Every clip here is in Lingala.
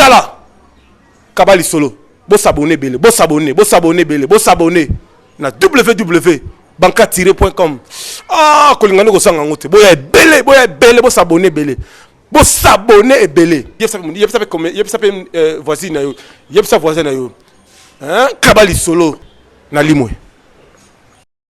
tala kaba lisolo bosabone ebele bosabone bosabone ebele bosabone na ww banka tire point com ah kolinga nde kosanga yango te boya ebele boya ebele bosabone ebele bosabone ebele yebisa mpe euh, voisine na yo yebisa voisin na yo kaba lisolo na limwe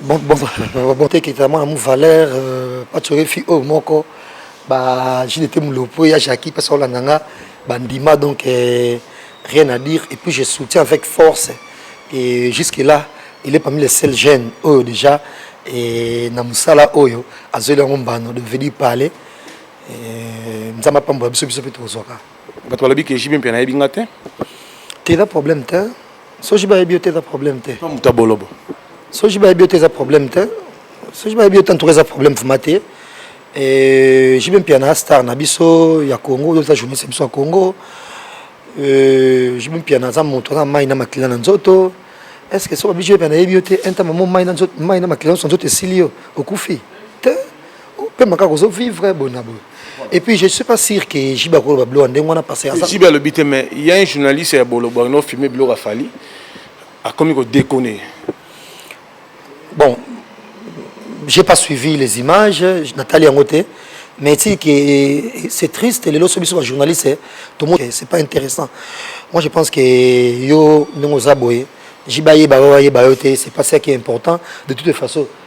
bon bon bon te kita mwana mu valeur euh, patchore fi oyo moko ba jile te mulopo ya jacki pesa olanda nga bandima donc euh, rien à dire et puis je soutiens avec force et jusque là il est parmi les seuls jeunes oyo déjà et na musala oyo azweli yango mbano de venir parler euh, nzambe apambola biso biso mpe tokozwaka bato balobi ke jibe mpe nayebi nga te te eza problème te soki bayebi yo te eza problème te pa moto ya bolobo soki bayebi yo te eza problème te soki bayebi yo te antuka eza problème vrima te eh, jibe mpiana star na biso ya congo oyo eza journaliste ya biso ya congo eh, jibe mpiana aza moto aza mai na makila na nzoto est ce que soki babiso mpiana ayebi yo te un temps mamo mai na makila nyonso nzoto esili yo okufi te pema kaka ozo vivre boye na boye et puis je suis pas sûr que jibe akoloba bilo ya ndenge wana parce que jibe alobi te mais ya un journaliste ya bolobo akino filme biloko afali akomi kodekone bon j'ai pas suivi les images natali yango te mais ti que eh, c'est triste lelo so biso bajournaliste eh, tomo eh, c'est pas intéressant moi je pense que yo ndenge oza boye jibe ayeba yo ayeba yo te c'est pas ça qui est important de toute façon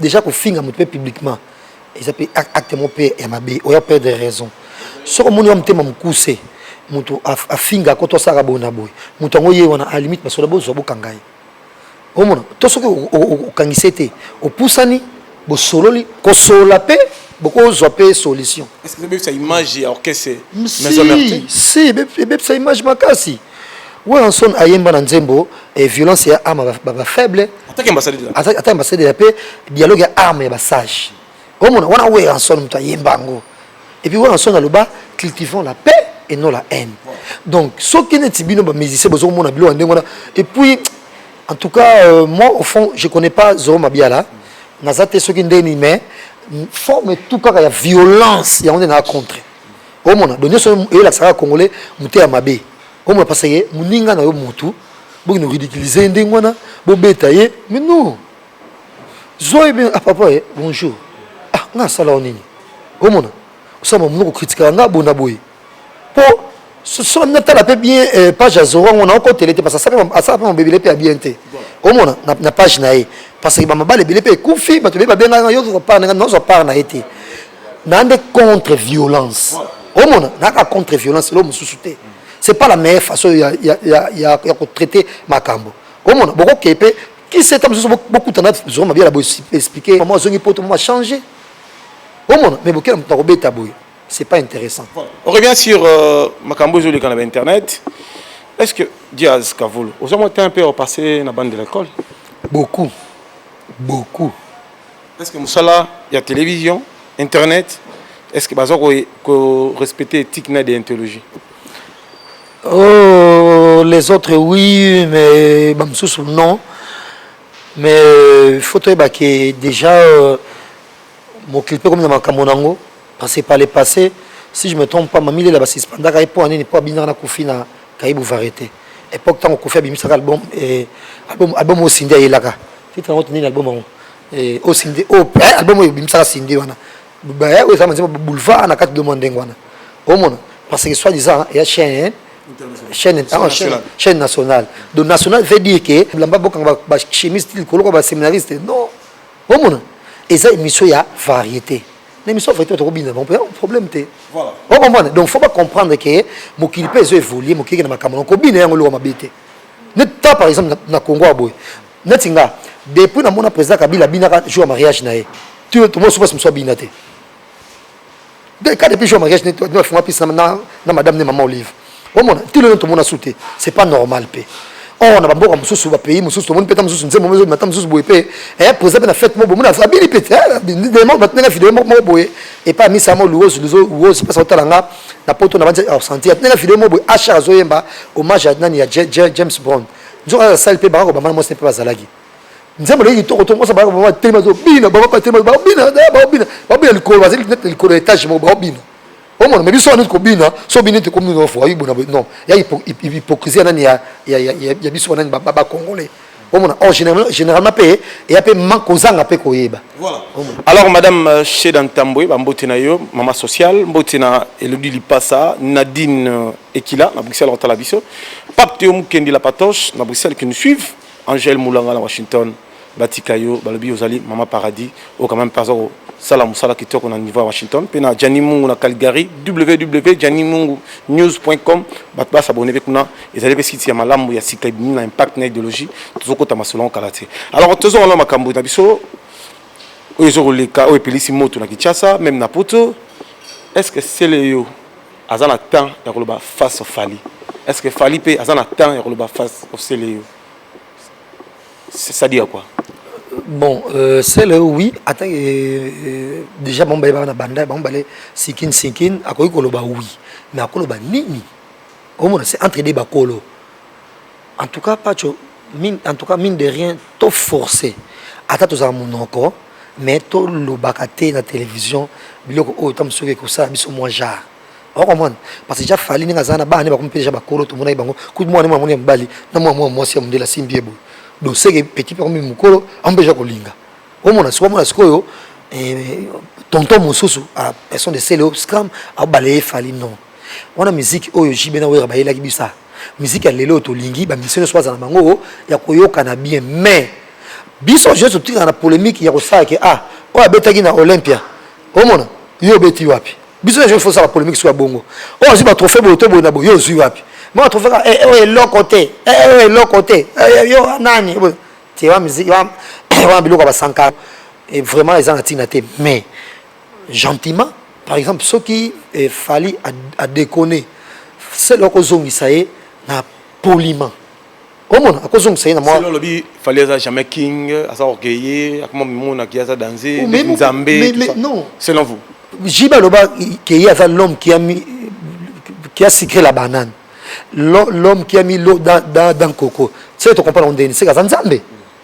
Deja kofinga moto mpe publiquement eza mpe acte moko mpe ya mabe oya perdre raison soki omoni wa motema mokuse moto afinga ko to asalaka boye na boye moto yango ye wana a limite basoda bozwa bokanga ye omona to soki okangisi ye te opusani bosololi kosolola mpe bokozwa mpe solution ebebisa image ya orchestre si ebebisa image makasi Werrason ayemba na nzembo eh, violence ya arme ba, ba faible ataki ambassadeur de la paix ata ambassadeur ya paix dialogue ya arme ya basage omona wana Werrason moto ayemba yango et puis Werrason aloba cultivons la paix et non la haine donc soki neti bino ba musicien bozo komona biloko ndenge wana et puis en tout cas euh, moi au fond je connais pas Zoro Mabiala naza te soki ndeni mais forme tout kaka ya violence yango nde na contre omona donc nyonso oyo elakisa kaka congolais mote ya mabe omona parce que moninga na yo motu bokende ridiculize ye ndenge wana bobeta ye mais non zwa ye bien ah papa ye eh, bonjour ah nga asala yo nini omona osala mamono kokritikaka nga bona boye mpo soki natala mpe bien eh, page ya zoro yango naokotele te parce asala mpe mabebele mpe ya bien te omona na page na ye parce que bamabala ebele mpe ekufi bato ebele babengaka yo zwa part na ye te na nde contre violence omona naka contre violence elo mosusu te c'est pas la meilleure façon ya, ya, ya, ya, ya kotraite makambo omona bokokee mpe kiseta mosusu bokutana zoma biala boexplike mama azongi poto mama change omona mais bokela moto akobeta boye c'est pas intéressant on revient sur euh, makambo ezoleka na bainternet est ce que diaz kavulu oza mwa temps mpe opasse na bande de l'école beaucoup beaucoup Est ce que musala ya television, internet, est ce que baza ko, ko respecter éthique na déontologie? Oh, les autres oui, mais ba mususu non. Mais euh, il faut toyeba que déjà euh, mokilipe comme na makambo nango parce que par le passé si je me trompe pas mamile la basispandaka ye mpo ya nini mpo abinaka na kufi na kaibu varieté époque ntango kofi abimisaka album eh, album, album oyo sindi ayelaka Titre yango nini album yango? Eh, o oh, Cindy, o oh, eh, album oyo bimisaka Cindy wana. Ba eh, oyo eza manzema boulevard na kati de mon ndenge wana. Omona parce que soit disant ya chaîne chaîne ah, chaîne, chaîne nationale. Donc nationale veut dire que lamba boka ba, ba chimiste likolo ko ba séminariste. Non. Omona eza émission ya variété. na émission vrai toko bina bon problème te voilà on comprend donc faut pas comprendre que mokili pe ezo évoluer mokili na makambo ko bina yango loko mabe te ne ta par exemple na Congo aboye neti nga depuis na mona président kabila abinaka jour ya mariage na ye tomona soki basi mosusu abina te ka depuis jour ya mariage nafunga mpisa na madame ne mama olive omona ti lelo tomona su te c'est pas normal mpe or na bamboka mosusu bapays mosusu tomoni mpeta mosusu nzembo mozo mata mosusu boye mpe président mpe na fete mo boye mona abini mpe batindaka video moko boye epai misa mo luozi luozi mpasa otala nga na poto na banza absenti atindaka video moko boye ashar azoyemba hommage ya nani ya james brown nzoka aza sali mpe baka kobamba na mwasi mpe bazalaki nzembo naye kitoko to mwasi abaka baba telema zobina baba batelema babina eh, babina babina likolo bazali nete likolo ya etage moko babina omona me biso wana neti kobina so bini nete komina ofo ayi bona non ya hypocrisie nani ya ya biso banani ba congolais omona or généralement mpe eya mpe manque kozanga mpe koyeba voilà alors madame euh, sheda ntambwe bambote na yo mama sociale mbote na elodi lipasa nadine euh, Ekila na Bruxelles kotala biso. Pape Théo Mukendi la Patoche na Bruxelles qui nous suivent. Angèle Moulanga na Washington batika yo balobi ozali mama paradis oyo quand même mpe aza kosala mosala kitoko na niveau ya washington mpe na jani mungu na calgary www jani mungu news com bato basabone mpe kuna ezali mpe site ya malamu ya sika ebimi na impact na idéologie tozokota masolo yango kala te alors tozonga na makambo na biso oyo ezokoleka oyo epelisi moto na kinshasa meme na poto est ce que sele yo aza na temps ya koloba face of Fally est ce que Fally pe aza na temps ya koloba face of Celeo c'est ça dire quoi bon euh, Celeo oui ata euh, euh, déjà bango bale baka na banda bango bale sikin sikin akoki koloba oui mais akoloba nini omona c'est entre des bakolo En tout cas Pacho, mine, en tout cas mine de rien, to forcer. Ata tozala munoko, mais to lobaka te na télévision biloko oyo tamu soki ekosala biso mwa genre. Au comprendre parce que déjà fali ndenge azana bana ba kompe déjà bakolo to monaki bango kutu mwana mwa mwana mobali na mwa mwa mwasi ya mundela simbi ebo donc c'est que petit pe kombi mukolo ampe déjà kolinga omona sikoyo mwana sikoyo eh, tonton mosusu a personne de sele au scram abale fali non wana miziki oyo jibe na wera bayelaki bisa miziki ya lelo tolingi bamisio nyonso bazala na bango ya koyokana bien mais biso jesu totikaka na polemiki ya kosala ke ah oyo abetaki na olympia omona yo obeti wapi biso nyonso ifo osala polemiki soki ya bongo oyo azwi batrofe boye to boye na boye yo ozwi wapi mwa trofe kaka eh, oyo eloko te eh, oyo eloko te eh, yo nani te wana biloko ya basankara vraiment eza na ntina te mais gentiment par exemple soki eh, fali adekone sele akozongisa ye na poliment omona akozongisa ye na mwa olobi fali aza jamais king aza orgueille akoma mimonaki aza danze nzambe selon vous jiba aloba keye aza l'homme qui a mis qui a sucré la banane l'homme qui a mis l'eau dans, dans, dans coco tu sais tocomprendre ndeni seke aza nzambe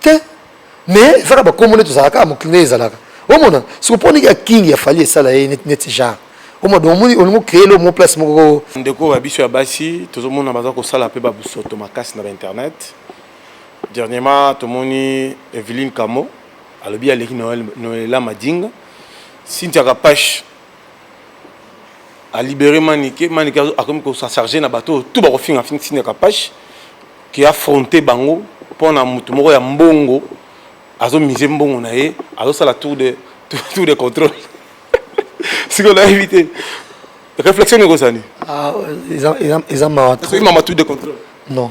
te mais eza kaka bakombo nde tozalaka kaka mokili nde ezalaka omona siko mpo ndenge ya kingi ya fali esala ye neti neti genre omona donc omoni olingi ocree lo mo place moko ko- ndeko ya biso ya basi tozomona baza kosala mpe babusoto makasi na bainternet dernièrement tomoni eveline kamo alobi aleki noel noela madinga cynthia kapash a libérer Manike, Manike akomi ko sa charger na bato tout ba kofinga finga Sina Kapash qui a affronté bango pona mutu moko ya mbongo azo miser mbongo na ye azo sala tour de tour de contrôle siko na éviter réflexion ne ko sani ah ils ont ils ont ils ont ma tout de contrôle non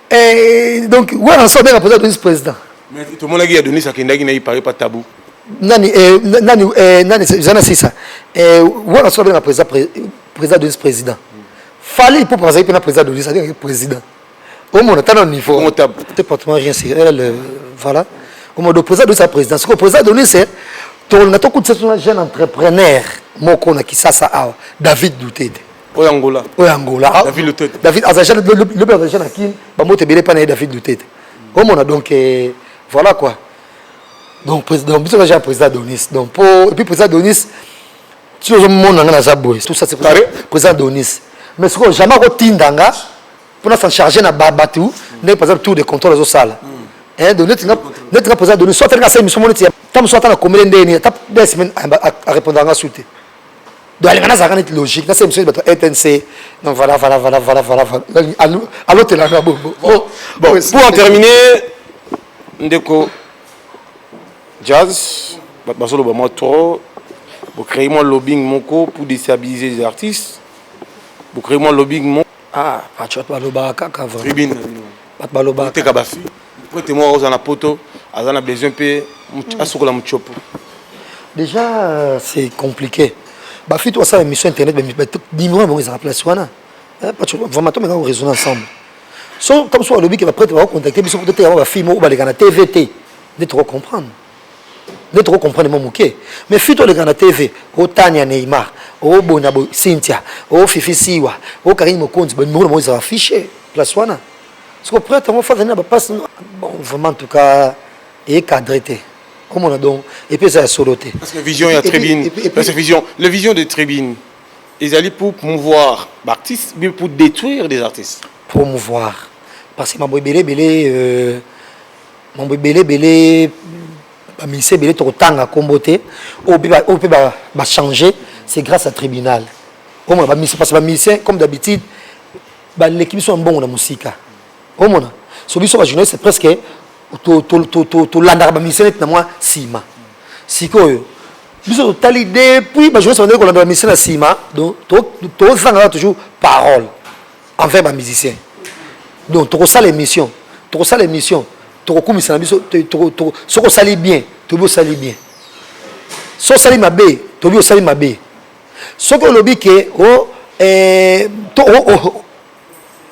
Eh, donc wana nso abenga mpenza adonis président tomonaki ya donis akendaki na ipare pa tabu nani eh, nani eh, nani eza na sisa wana nso abenga président président donis président fali mpo azalaki mpe na président donis abengaki président omona ata na niveau te pratiquement rien c'est elle voilà omodo président donis a président sikoyo président donis tolinga tokutisa tona jeune entrepreneur moko na kisasa awa david dutete oyo angola oyo angola david lutete david azaja lobi azaja na kin bambote ebele epai na ye david lutete omona donc eh, voilà quoi donc président biso naja président donis donc po epuis président donis ti ozomona nga naza boye tout ça c'est président donis mais sikoyo jamais akotinda nga mpo na s'en charge na bato ndenge par exemple tour de contrôle azosala hmm. donc neti nga président donis so atali nga asali miso mo neti ta mosu ata na komele ndeni ata des semaine arépondaka nga su te donc alinga nazalaka neti logique nasala misoni bato etnc non voilà voilà voilà voilà voilà alotelanga bongo oh, bon pour en terminer ndeko jazz bato bazoloba mwa trop bocreye mwa lobbying moko pour déstabiliser les artistes bocreye mwa lobbying moko ah patriote balobaka kaka vrai tribune na bino bato balobaka teka bafi Prete moko akozala na poto aza na besoin mpe hmm. asukola motshopo. Déjà euh, c'est compliqué. Ba fille to asala émission internet ba numéro bango ezala place wana. Eh, parce que vraiment to meka ko raisonner ensemble. So comme so alobi que ba prete ba contacter biso peut-être ya ba fille moko baleka na TVT. Nde trop comprendre. Nde trop comprendre mo moke. Mais fille to leka na TV, o Tania Neymar, o Bonabo Cynthia, o Fifi Siwa, o Karine Mokonzi, ba numéro bango ezala affiché place wana. siko prêtre yango fo azali na bapasi bon vraiment en tout cas ecadre te omona donc epuis eza ya solo te parce que vision ya tribune parce que vision le vision de tribune ezali pour promouvoir baartiste bi pour détruire des artistes promouvoir parce que mambo ebele ebele euh, mambo ebele ebele baministre ebele tokotanga nkombo te oyo mpe bachange c'est grâce à tribunal omona baministre parce que baministre comme d'habitude baleki biso ya mbongo na mosika omona so biso bajournaliste presque tolandaka bamisio neti na mwa nsima sikoyo biso totali depuis bajournaliste bandaki kolanda bamisio na nsima donc tozanga kaka toujours parole envers bamusicien donc tokosala émission tokosala émission tokokumisa na biso soki osali bien toyebi osali bien so osali mabe toyebi osali mabe soki olobi ke o oh, eh, to o oh, oh,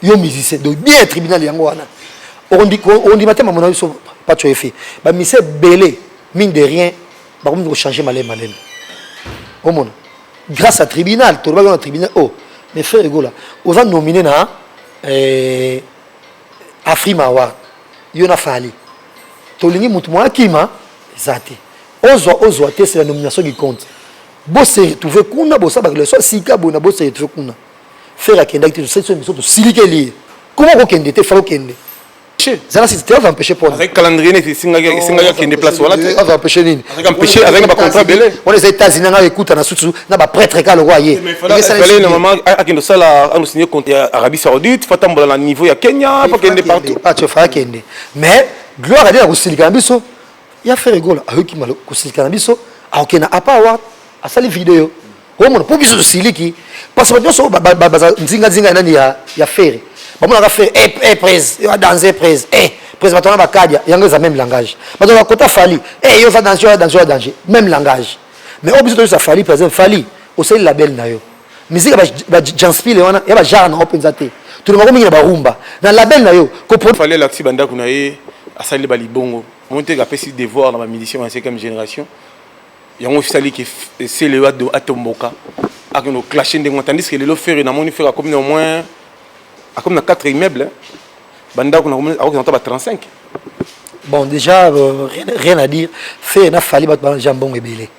yo musicien donc bien tribunal yango wana ondima te mamona biso paco efe bamisi ebele mine de rien bakomi kochange malele malele omona grâce à tribunal tolobaki na tribunal o oh, mais frère egola oza nomine na eh, afrima award yo na fali tolingi motu mwa akima eza te ozwa ozwa te c'est la nomination qui compte Bo se retrouver kuna bosa ba relation sika boye na bo se retrouver kuna. Ferre akendaki te tosali so biso tosilikeli ye. Koma kokende te falo kende. Zala si te va empêcher pona. Avec calendrier ne singaki singaki akende place wana te. Va empêcher nini? Avec empêcher avec ba contrat belé. On les États-Unis nga écoute na susu na ba prêtre ka le roi ye. Fallait na maman akende sala anu signer compte ya Arabie Saoudite, fatambola na niveau ya Kenya, pas kende partout. Ah tu fais akende. Mais gloire à Dieu ya kosilika na biso. ya frère egola ayoki malo kosilika na biso aoke na apa award asali video omona mpo biso tosiliki parce bato nyonso baza nzinganzinga ya nani ya fere bamonaka fere e eh, eh, prese yo adanse prese e eh, prese bato wana bakadia yango eza même langage bato bakota fali e yo oza danger oya danger oya danger même langage mais oyo biso toyisa fali par exemple fali osali label na yo musique ya ba janspile wana ya ba genre na yo mpenza te tolingako mingi na barumba na label na yo fale alakisi bandako na ye asali balibongo omoni te apesi devoir na bamusicien ya cinquième génération yango esali ke seleo atomboka akende oclashe ndenge tandis ke lelo fere namoni fere akomi na au moins akomi na 4 immeuble bandako akoki na ta ba 35 bon déjà euh, rien, rien à dire fe na fali bato bana déjà mbongo ebele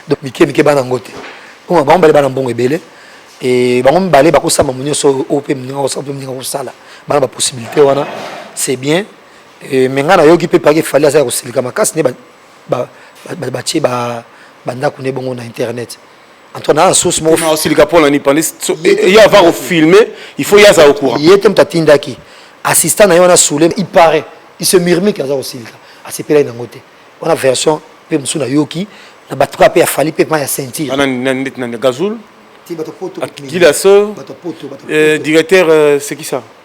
donc mike mike bana yango te oyo bango bale bana mbongo ebele e bango mibale bakosamba mo nyonso oyo mpe moninga kosala mpe moninga kosala bana bapossibilité wana c'est bien e, me ngai nayoki mpe pake fali aza ya kosilika makasi nde batie bandako nde bongo na internet antoine na source moko ma osilika pona ni pande ye ava ko filmer il faut yaza au courant yete mta tindaki assistant na yo na soule il paraît il se murmure que aza ko silika asepelaki nango te wana version pe musu na yoki na bato kaka pe ya fali pe ma ya ceinture ana na ndeti na gazul ti bato poto kila so directeur c'est qui ça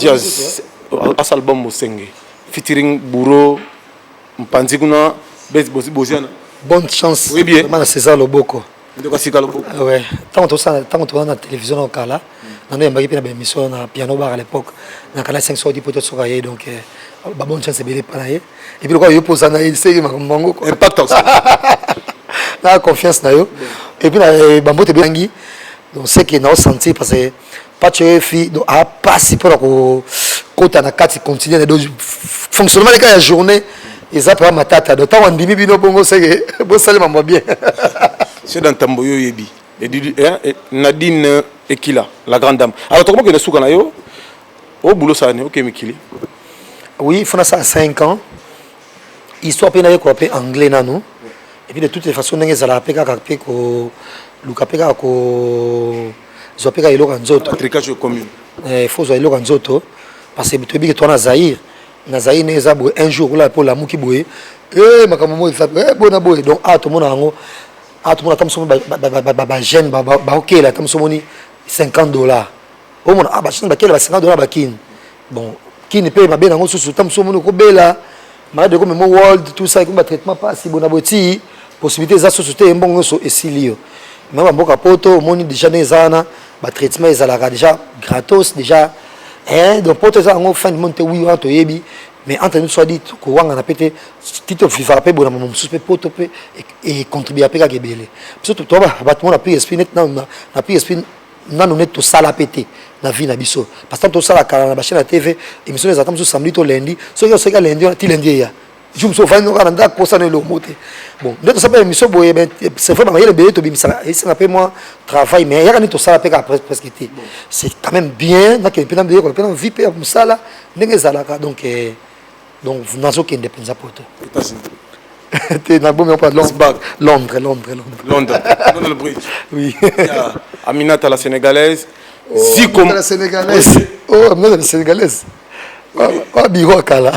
jazz asa album mosenge featuring bouro mpanzi kuna boziana bonne chance vraiment na césar loboko ntango tozala na télévision na kala nano yambaki mpe na baémission na piano bar à l'époque na kala 5 sodi mpo tosoka ye donc euh, babonne chance ebele epa na ye epuis lokola yo mpo oza na ye liseki makambo mango na confiance na yo epuis na eh, bambote ebeyangi donc seke naosentir parce que pacho efi donc a pasi pona ko kota na kati continuer na donc fonctionnement leka ya journée eza papa matata donc tango andimi bino bongo seke bosali mambo bien c'est dans tambo yo yebi nadine ekila la grande dame alors tokomokende suka na yo o boulot sani oke okay, mikili oui il faut na sala 5 ans histoire mpe nayekola mpe anglais nanu epuis de toutes les façons ndenge ezalaka mpe kaka mpe koluka mpe kaka ko zwa mpe kaka eloko ya nzoto tricage ekomi eh, faut zwa eloko ya nzoto parce que toyebi ke toa na zaire na zaire ne eza boye un jour okolala mpe olamuki boye e makambo moi eza eh, boye na boye donc awa ah, tomona yango awa ah, tomona ata moso bagene baokela ata moso omoni 50 dollar omona ah, bachine bakela ba 50 dollar bakini bon kini mpe mabe nango susu ta mosusu omoni okobela malade ekomi mo world tout ça ekomi batraitement mpasi bona boye tii possibilité eza susu te mbongo nyonso esili yo me bamboka poto omoni déjà ndenge eza wana batraitement ezalaka déjà gratos déjà eh, donc poto eza yango fin du monde te wi wana toyebi mais entre nous soit dit kowangana mpe te ti tofivaka mpe bonama mosusu mpe poto mpe econtribua mpe kaka ebele biso bato mona plus esprit neti na plus esprit nanu neti tosala pe te na vie na biso parce que tosala kala na ba chaîne ya TV émission ezalaka mosusu samedi to lundi soki oseka lundi wana ti lundi eya jour mosusu ofandi noka na ndako posa na eloko te bon nde tosala pe émission boye ben c'est vrai bamayele ebele tobimisaka esenga pe mwa travail mais yaka nini tosala pe kaka presque presque te c'est quand même bien nakende pe na yekola pe na vie pe ya mosala ndenge ezalaka donc eh, donc nazokende mpenza poto te nabomi yango londres londres londres londres londres bridge oui aminata la sénégalaise oh, ziko la sénégalaise oh aminata la sénégalaise oyo biro ya kala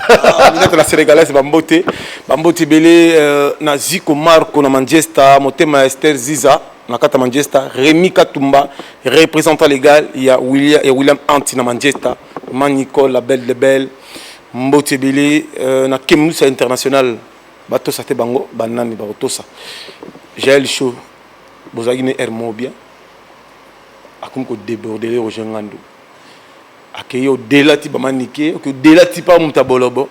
minete na sénégalaise bambote bambote ebele euh, na ziko marco na manchester motema ya ester ziza na kati ya manchester remi katumba représentant légal ya william, ya william anti na manchester ma nicole la belle de belle Mbote ebele na Kemlusa International batosa te bango banani bakotosa Jael Show bozalaki ne air moko bien akomi ko debordele Roger Ngandu akei au delà ti bama nike au delà ti pa muta bolobo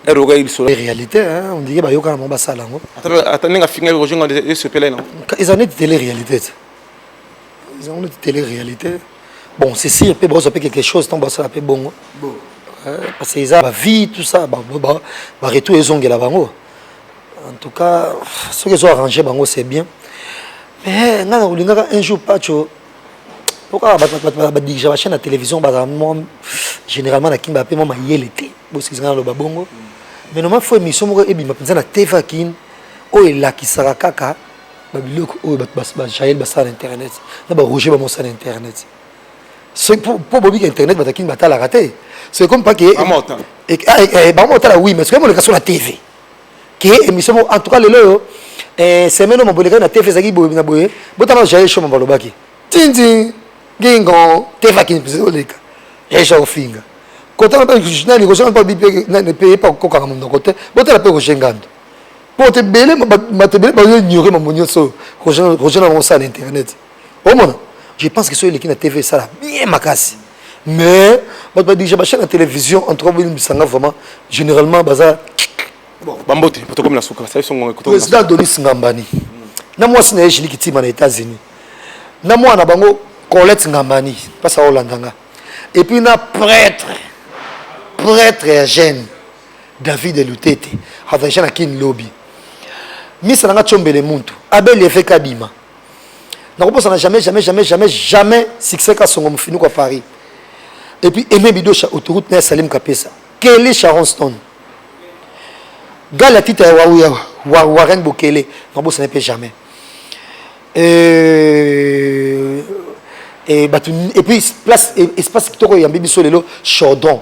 air okaki lisolo réalité hein on dirait bayoka na bango basala yango ata ndenge afingaki Roger Ngandu esopela ye nango eza neti tele réalité ezango neti tele réalité bon c'est sûr mpe bakozwa mpe quelque chose ntango basala mpe bongo parce que eza bavie tout ça baretour ezongela bango en tout cas soki ezo arrange bango c'est bien mais ngai nakolingaka un jour pacho po kaka badirige bachaine ya télévision bazala mwa généralement na kin bape mwa mayele te bosikisi ngai naloba bongo mais noma fo émission moko ebima mpenza na tv ya kin oyo elakisaka kaka babiloko oyo bato bajael basala na internet na barouge bamosala na internet mpo bobika internet bato akini batalaka te soki comme pas ke bango otala oui mais soki emoleka so na tv ke émission moko en tout cas lelo oyo eh, semaine oyo mabolekaki na tv ezalaki boye na boye botala jael show mamba alobaki tintin gingo tv akini mpenza oleka jael show akofinga kotala mpe nani kozonga mpe bipe mpe epa kokanga monoko te botala mpe roger ngando bato ebele bato ebele bayo ignore mambo nyonso oyo roger na bango osala na internet omona je pense que soki eleki na tv esala bien makasi mais bato badirige bachaine ya télévision en tout cas bolimbisa nga vraiment généralement baza bambote tokomi na suka président adonis ngambani na mwasi na ye jili kitima na états-unis na mwana na bango colette ngambani mpasi aolanda nga epuis na prêtre prêtre ya gene David Lutete avaisha na kin lobi misa nanga tsombele muntu abel eveke abima nakobosana jamais jamais jamais jamais jamais succès kasongo mofini kwa paris et puis aime bidosha autoroute na ya salim kapesa kelly sharon stone gala tita ya wauya warren bokele nakobosana mpe jamais euh, et, et puis place espace kitoko eyambi biso lelo chaudron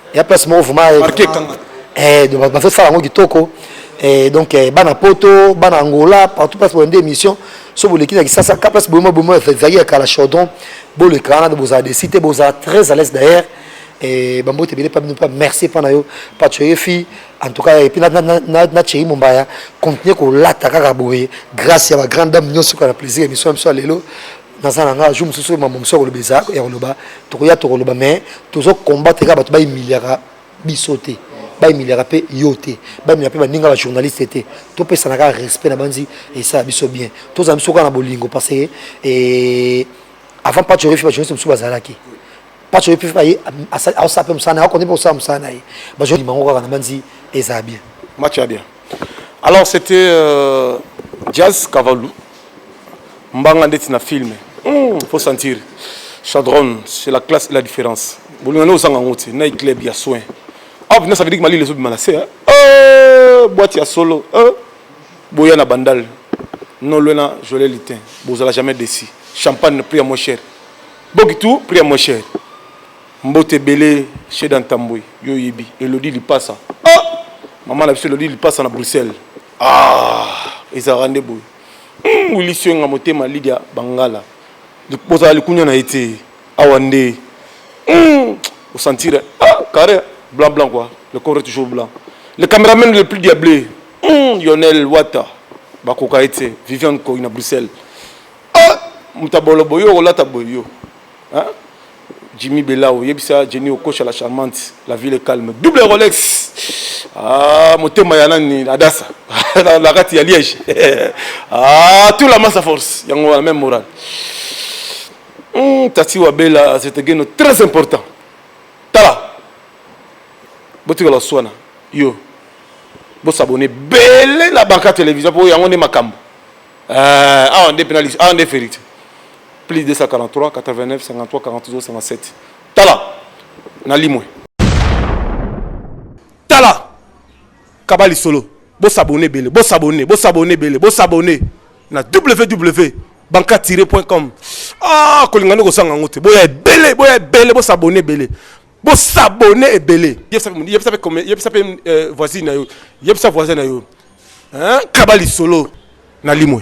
ya place moko vraiment marke kanga eh donc bazo sala yango kitoko eh donc eh, bana poto bana angola partout place bolandi émission so boleki na kisasa ka place boyema boyema ezali ya kala chaudron boleka wana bozala desi te bozala très à l'aise d'ailleurs eh, bambote ebele mpa bino mpa merci mpa na yo pacho yefi en tout cas epuis na chei mombaya continue kolata kaka boye grâce ya bagrande dame nyonso kaka na plaisir émission ya biso ya lelo naza na ngai jour mosusu oyo mambo mosusu ya koloba eza ya koloba tokoya tokoloba mais tozo combattre kaka bato baimiliaka biso te baimiliaka mpe yo te baimiliaka mpe baninga bajournaliste te topesana kaka respect na banzi esala biso bien tozala biso kaka na bolingo parce que eh, avant pacho oyefi bajournaliste mosusu bazalaki pacho oyefi baye asala mpe mosala na ye akondi mpe kosala mosala na ye bajournaliste bango kaka na banzi ezala bien match ya bien Alors c'était euh, Jazz Kavalou. Mbanga ndeti na film. Mm, faut sentir. Chadron, c'est la classe et la différence. Bolingana osanga ngo te, na club ya soin. Ah, bina ça veut dire que Mali les autres malase. Hein? Euh, boîte ya solo. Euh, boya na bandal. Non lena, je l'ai litin. Bozala jamais déçu. Champagne prix à moins cher. Bogitou prix à moins cher. Mbote ebele chez da Ntambwe yo oyebi Elodie Lipasa ah maman na biso Elodie Lipasa na Bruxelles ah ezalaka nde boye hmm, Willy Suenga motema Lydia Bangala bozala likunya na ye te awa nde hmm, osantire ah carré blanc blanc quoi le corps est toujours blanc le cameraman le plus diablé hmm, Lionel Wata bakoka ye te Viviane Koy na Bruxelles ah motabolo boye okolata boye yo hein Jimmy Belao, yebisa Jenny Okocha la charmante, la ville est calme. Double Rolex. Ah, motema ya nani Adassa. la, la rate ya Liège. ah, tout la masse à force. Yango la même morale. Hum, Tati Wabela, c'est un très important. Tala. Botika la soana. Yo. Bo s'abonner. Belé la banca télévision pour yango ne makambo. Euh, awa nde penalty, awa nde verite. Plus 243 89 53 42 57. Tala, nalimwe. Tala, kabali solo. Bo s'abonner bele, bo s'abonner, bo s'abonner bele, bo s'abonner na www.banka-com. Ah, kolinga nde kosanga ngote. Boya ebele, boya ebele, bo s'abonner bele. Bo s'abonner ebele. Yebisa pe yebisa pe comme yebisa pe euh, voisine na yo. Yebisa voisin na yo. Hein? Kaba lisolo na limwe.